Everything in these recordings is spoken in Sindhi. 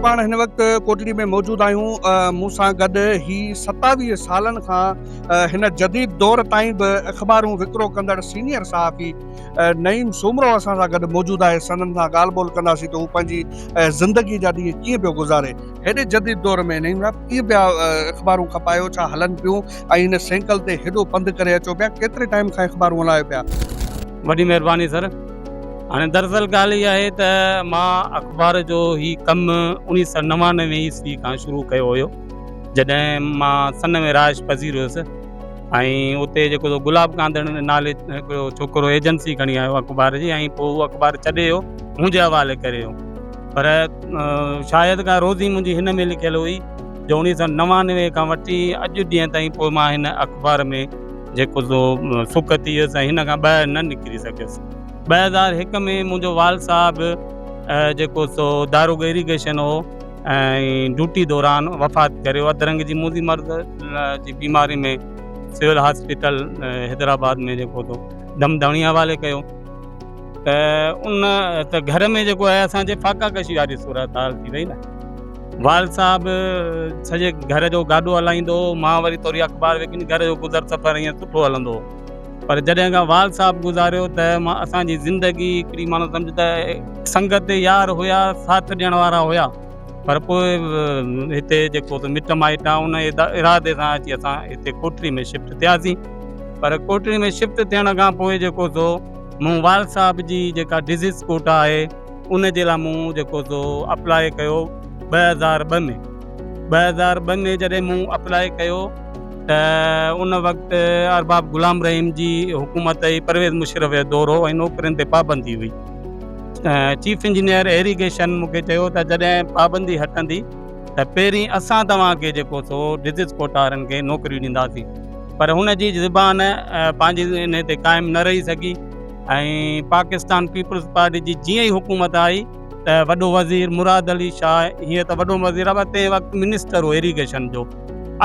پاڻ هن وقت ڪوٽڙي ۾ موجود آهيون مون سان گڏ هي ستاويهه سالن کان هن جديد دور تائين به اخبارون وڪرو ڪندڙ سينيئر صحافي نعيم سومرو اسان سان گڏ موجود آهي سندن سان ڳالهه ٻولهه ڪنداسين ته هو پنهنجي زندگي جا ڏينهن ڪيئن پيو گذاري هيڏي جديد دور ۾ نعيم صاحب ڪيئن پيا اخبارون کپايو ڇا هلن پيون ۽ هن سينڪل تي هيڏو پنڌ ڪري اچو پيا ڪيتري ٽائيم کان اخبارون هلايو پيا. وڏي مهرباني سر هاڻي دراصل ڳالهه هي آهي ته مان اخبار جو هي ڪم اڻيهه سئو نوانوي عيسوي کان شروع ڪيو هيو جڏهن مان سن ۾ رهائش پذير هيس ۽ اتي جيڪو سو گلاب ڪانڌڙ نالي هڪڙو ڇوڪرو ايجنسي کڻي آيو اخبار جي ۽ پوء اخبار ڇڏي ويو منهنجي حوالي ڪري ويو پر شايد ڪا روزي منهنجي هن ۾ لکيل هئي جو اوڻيهه سؤ نوانوي کان وٺي اڄ ڏينهن تائين پوء مان هن اخبار ۾ جيڪو سو سڪ ٿي ويس ۽ هن کان ٻاهر نه نڪري سگهيس. ٻه هزار هڪ ۾ منهنجو وال صاحب جيڪو سو داروغ ايريگيشن هو ۽ ڊوٽي دوران وفات ڪري ويو. اڌ رنگ جي موذي مرض جي بيماري ۾ سول هاسپيٽل حيدرآباد ۾ جيڪو سو دم داڻي حوالي ڪيو. ته ان ته گهر ۾ جيڪو آهي اسان جي فاقا ڪشي واري صورت حال ٿي وئي نه وال صاحب سڄي گهر جو گاڏو هلائيندو هو مان وري ٿوري اخبار وڪڻي گهر جو گذر سفر ائين سٺو هلندو هو پر جڏهن کان وال صاحب گذاريو ته مان اسان جي زندگي هڪڙي ماڻهو سمجهه ته سنگت يار هيا ساٿ ڏيڻ وارا هيا پر پوء هتي جيڪو ته مٽ مائٽ آهي ان ارادي سان اچي اسان هتي ڪوٽڙي ۾ شفٽ ٿياسين پر ڪوٽڙي ۾ شفٽ ٿيڻ کان پوء جيڪو سو مون وال صاحب جي جيڪا ڊزيز ڪوٽا آهي ان جي لاء مون جيڪو سو اپلاء ڪيو ٻه هزار ٻه ۾ ٻه هزار ٻه ۾ جڏهن مون اپلاء ڪيو ته ان وقت ارباب غلام رحيم جي حڪومت ۽ پرويز مشرف جو دور هو ۽ نوڪرين تي پابندي هئي چيف انجنيئر ايريگيشن مون کي چيو ته جڏهن پابندي هٽندي ته پهرين اسان توهان کي جيڪو سو ڊزيز ڪوٽا وارن کي نوڪريون ڏينداسين پر هن جي زبان پنهنجي انهي تي قائم نه رهي سگهي ۽ پاڪستان پيپلز پارٽي جي جيئن ئي حڪومت آئي ته وڏو وزير مراد علي شاهه هيئن ته وڏو وزير آهي پر تنهن وقت منسٽر هو ايريگيشن جو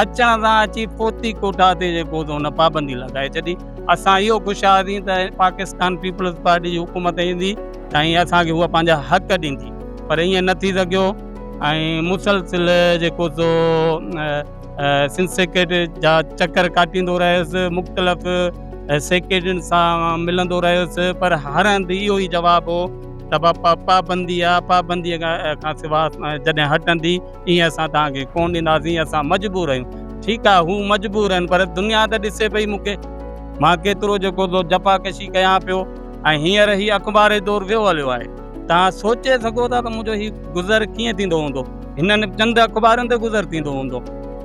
اچڻ سان اچي فوتي ڪوٽا تي جيڪو سو ان پابندي لڳائي ڇڏي اسان اهو خوش هئاسين ته پاڪستان پيپلز پارٽي جي حڪومت ايندي ۽ اسان کي هوء پنهنجا حق ڏيندي پر ائين نه ٿي سگهيو. ۽ مسلسل جيڪو سو سنڌ سيڪريٽري جا چڪر ڪاٽيندو رهيس مختلف سيڪريٽرين سان ملندو رهيس پر هر هنڌ اهو ئي جواب هو ته باپا پابندي آهي پابندي کان سوا جڏهن هٽندي ايئن اسان توهانکي ڪونه ڏينداسين اسان مجبور آهيون ٺيڪ آهي هو مجبور آهن پر دنيا ته ڏسي پئي مون کي مان ڪيترو جيڪو سو جفاڪشي ڪيان پيو ۽ هينئر هي اخباري دور ويو هليو آهي توهان سوچي سگهو ٿا ته منهنجو هي گذر ڪيئن ٿيندو هوندو هنن چند اخبارن تي گذر ٿيندو هوندو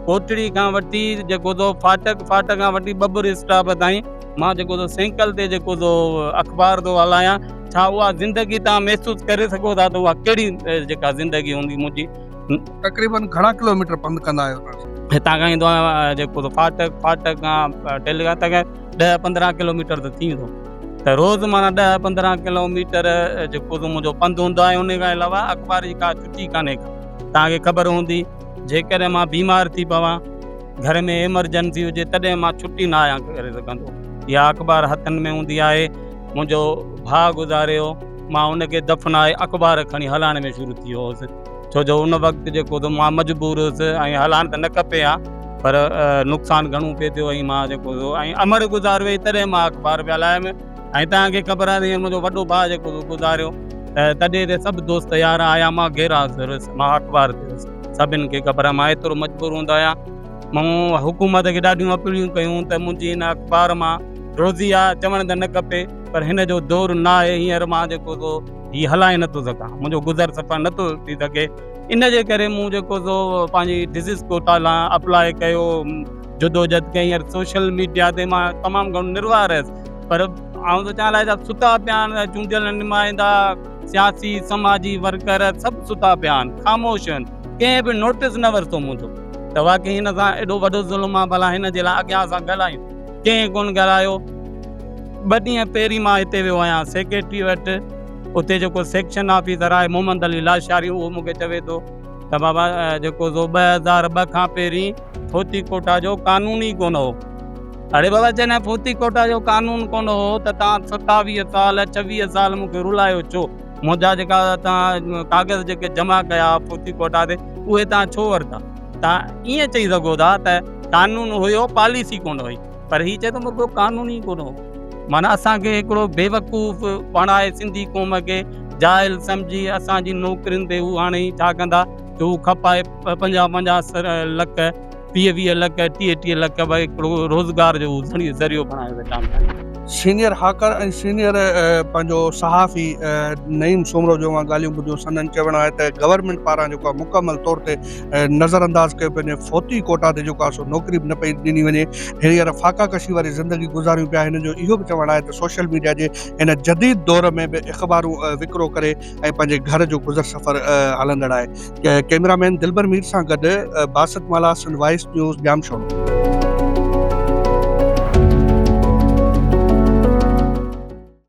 ڪوٽڙي کان وٺي جيڪو سو فاٽڪ فاٽڪ کان وٺي ٻٻر اسٽاپ تائين مان جيڪو سو سينڪل تي جيڪو سو اخبار ٿو هلايان ڇا اها زندگي تان محسوس ڪري سگهو ٿا ته اها ڪهڙي جيڪا زندگي هوندي منهنجي تقريبن گهڻا ڪلوميٽر پنڌ ڪندا آهيو هتان کان ايندو آهيان جيڪو فاٽڪ فاٽڪ کان ٽيلي کان ڏهه پندرهن ڪلوميٽر ته ٿي ويندو ته روز معنيٰ ڏهه پندرهن ڪلو ميٽر جيڪو تون منهنجو پنڌ هوندو آهي ان کان علاوه اخبار جي ڪا چٽي ڪانهي ڪا توهان کي خبر هوندي جيڪڏهن مان بيمار ٿي پوان گهر ۾ ايمرجنسي هجي تڏهن مان چٽي نه آهيان ڪري سگهندو اها اخبار هٿن ۾ هوندي آهي منهنجو ڀاء گذاري ويو مان ان کي دفنائي اخبار کڻي هلائڻ ۾ شروع ٿي ويو هوس ڇو جو ان وقت جيڪو ته مان مجبور هيس ۽ هلان ته نه کپي ها پر نقصان گهڻو پئي ٿيو ۽ مان جيڪو سو ۽ امڙ گذار وئي تڏهن مان اخبار پيا لايم ۽ توهان کي خبر آهي ته منهنجو وڏو ڀاء جيڪو سو گذاريو ته تڏهن تي سڀ دوست يار آيا مان گهيرا سرس مان اخبار تي هيس سڀن کي خبر آهي مان ايترو مجبور هوند آهيان مون حڪومت کي ڏاڍيون اپيلون ڪيون ته منهنجي هن اخبار مان روزي آهي چوڻ ته نه کپي پر هن جو دور نه آهي هينئر مان جيڪو سو هي هلائي نٿو سگهان، منهنجو گذر سفر نٿو ٿي سگهي، ان جي ڪري مون جيڪو سو پنهنجي ڊزيز ڪوٽا لاء اپلاء ڪيو، جدوجھد ڪئي ۽ سوشل ميڊيا تي مان تمام گھڻو نروار رهيس پر آئون ته چاهيان لاء ستا پيا آهن، چونڊيل نمائندا، سياسي، سماجي ورڪر سڀ ستا پيا آهن، خاموش آهن، ڪنهن به نوٽيس نه ورتو منهنجو ته واقعي هن سان ايڏو وڏو ظلم آهي، ڀلا هن جي لاء اڳيان اسان ڳالهايون. ڪنهن ڪونه گهرايو. ٻه ڏينهن پهرين مان هتي ويو آهيان سيڪريٽري وٽ، اتي جيڪو سيڪشن آفيسر آهي محمد علي لاشاري اهو مون کي چوي ٿو ته بابا جيڪو سو ٻه هزار ٻه کان پهرين فوتي ڪوٽا جو قانون ئي ڪونه هو. اڙي بابا جڏهن فوتي ڪوٽا جو قانون ڪونه هو ته توهان ستاويهه سال ڇويهه سال مون کي رلايو ڇو؟ منهنجا جيڪا توهان ڪاغذ جيڪي جمع ڪيا فوتي ڪوٽا تي اهي توهان ڇو ورتا؟ تان ايئن چئي سگهو ٿا ته قانون هيو پاليسي ڪونه هئي پر هي چئي ٿو مون کي قانون ئي ڪونه هو معنيٰ اسان کي هڪڙو بيوقوف بڻائي سنڌي قوم کي جاهل سمجهي اسان جي نوڪرين تي هو هاڻي ڇا ڪندا جو هو کپائي پنجاهه پنجاهه لک ويهه ويهه لک ٽيهه ٽيهه لک ڀاء هڪڙو روزگار جو ذريعو بڻائي ويٺا آهن سينيئر هاڪر ۽ سينيئر پنهنجو صحافي نعيم سومرو جو مان ڳالهيون ٻڌيون سندن چوڻ آهي ته گورنمينٽ پاران جيڪو مڪمل طور تي نظر انداز ڪيو پيو وڃي فوتي ڪوٽا تي جيڪو آسو نوڪري به نه پئي ڏني وڃي هينئر فاقا ڪشي واري زندگي گذاريون پيا هن جو اهو به چوڻ آهي ته سوشل ميڊيا جي هن جديد دور ۾ به اخبارون وڪرو ڪري ۽ پنهنجي گهر جو گذر سفر هلندڙ آهي ڪيمرا مين دلبر مير سان گڏ باسط مالا سنڌ وائس نيوز ڄام شو